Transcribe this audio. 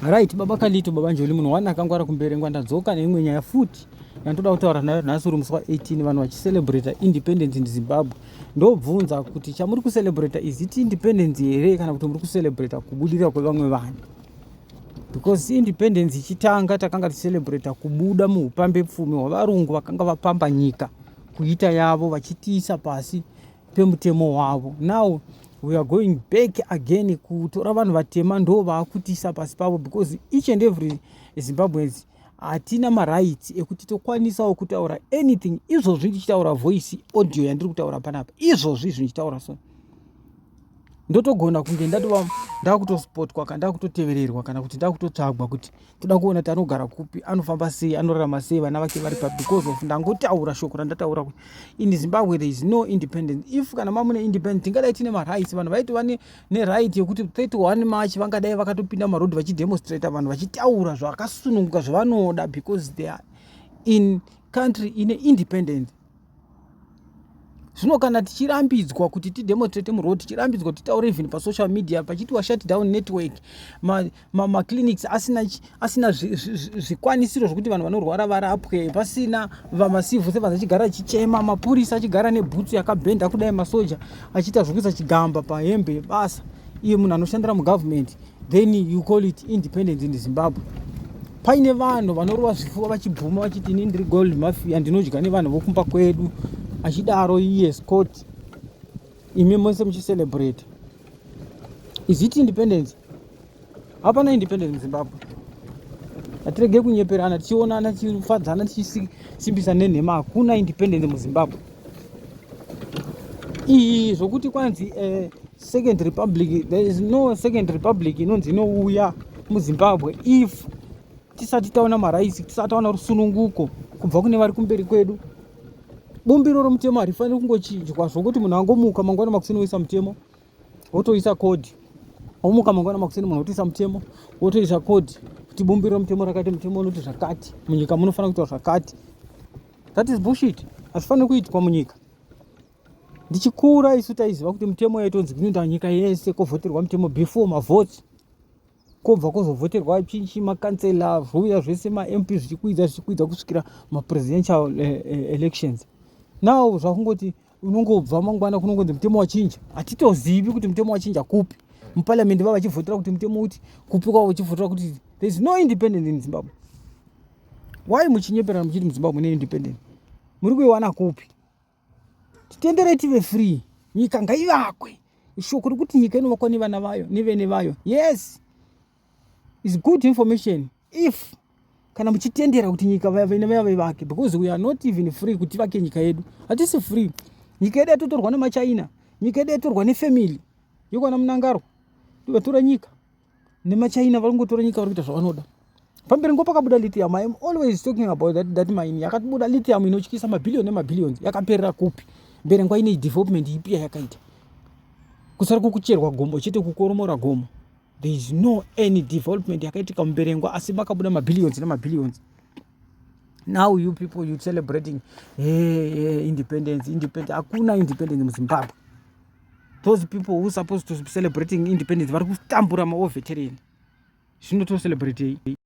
Right, baba Kalito, baba Njoli, munhu wani akangwara kumberengwa ndadzoka neimwe nyaya futi yandoda kutaura nayo nhasi uri musi wa 18 vanhu vachicelebrata independence in Zimbabwe. Ndobvunza kuti chamuri kucelebrata is it independence here kana kuti muri kucelebrata kubudirira kwevamwe vanhu? Because independence ichitanga takanga ticelebrata kubuda muupambe pfumi hwavarungu vakanga vapamba nyika kuita yavo vachitiisa pasi pemutemo wavo now we are going back again kutora vanhu vatema ndo vaakutisa pasi pavo because each and every zimbabweans hatina marights ekuti tokwanisawo kutaura anything izvozvi ndichitaura voice audio yandiri kutaura panapa izvozvi izvi ndichitaura so ndotogona kunge ndatova ndakutospotwa kana ndakutotevererwa kana kuti ndakutotsvagwa kuti toda kuona kuti anogara kupi anofamba sei anorarama sei vana vake vari papi because of ndangotaura shoko randataura kuti in zimbabwe there is no independence if kana mamune independent tingadai tine marights vanhu vaitova neright yekuti 31 march vangadai vakatopinda mumarodhi vachidemonstrata vanhu vachitaura zvakasununguka zvavanoda because they are in country ine independent zvino kana tichirambidzwa kuti tidemonstrate muroad tichirambidzwa kuti titaure even pasocial media pachiti washut down network maclinics ma, ma asina, asina zvikwanisiro zvi, zvi zvekuti vanhu vanorwara varapwe pasina vamasivu sevanhu achigara achichema mapurisa achigara nebhutsu yakabhenda kudai masoja achiita zvekuisa chigamba pahembe yebasa iye munhu anoshandira mugovernment then you call it independence in zimbabwe paine vanhu vanorova zvifuva vachibvuma vachiti ini ndiri gold mafia ndinodya nevanhu vokumba kwedu achidaro iye scott imi mose muchicelebrate is it independence hapana independence muzimbabwe hatirege kunyeperana tichionana tichifadzana tichisimbisa nenhema hakuna independence muzimbabwe iyi zvokuti kwanzi eh, second republic there is no second republic inonzi inouya muzimbabwe if tisati taona maraisi tisati taona rusununguko kubva kune vari kumberi kwedu bumbiro romutemo harifaniri kungochinjwa zvokuti munhu angomuka mangwana makuseni woisa mutemo wotoisa kodhi omuka mangwana makuseni munhu wotoisa mutemo wotoisa kodhi kuti bumbiro romutemo rakati mutemo unoti zvakati munyika munofanira kuitwa zvakati That is bullshit. Hazvifaniri kuitwa munyika. Ndichikura isu taiziva kuti mutemo yaitonzi kunoenda nyika yese kovhoterwa mutemo before mavhoti kobva kozovhoterwa chinchi makansela zviuya zvese mamp zvichikwidza zvichikwidza kusvikira mapresidential eh, eh, elections now zvakungoti unongobva mangwana kunongonzi mutemo wachinja hatitozivi kuti mutemo wachinja kupi muparliamendi vava vachivhotera kuti mutemo uti kupi kwavo vachivhotera kuti there is no independent in zimbabwe why muchinyeperana muchiti muzimbabwe mune independent muri kuiwana kupi titenderei tive free nyika ngaivakwe shoko rekuti nyika inovakwa nevana vayo nevene vayo yes is good information if kana muchitendera kuti nyika vene vaya vaivake because we are not even free kuti vake nyika yedu hatisi free nyika yedu yatotorwa nemachina nyika yedu yatorwa nefamily yokwana munangaro vatora nyika nemachina vari kungotora nyika vari kuita zvavanoda pamberi ngo pakabuda lithium iam always talking about that, that mine yakabuda lithium inotyisa mabhillion nemabhillions yakaperera kupi mbere nguva ine development ipi yayakaita kusara kukucherwa gomo chete kukoromora gomo there is no any development yakaitika muberengwa asi makabuda mabillions nemabillions now you people you celebrating hey, hey, independence independence hakuna independence muzimbabwe those people who supposed to celebrating independence vari kutambura maoveterini zvino to celebrate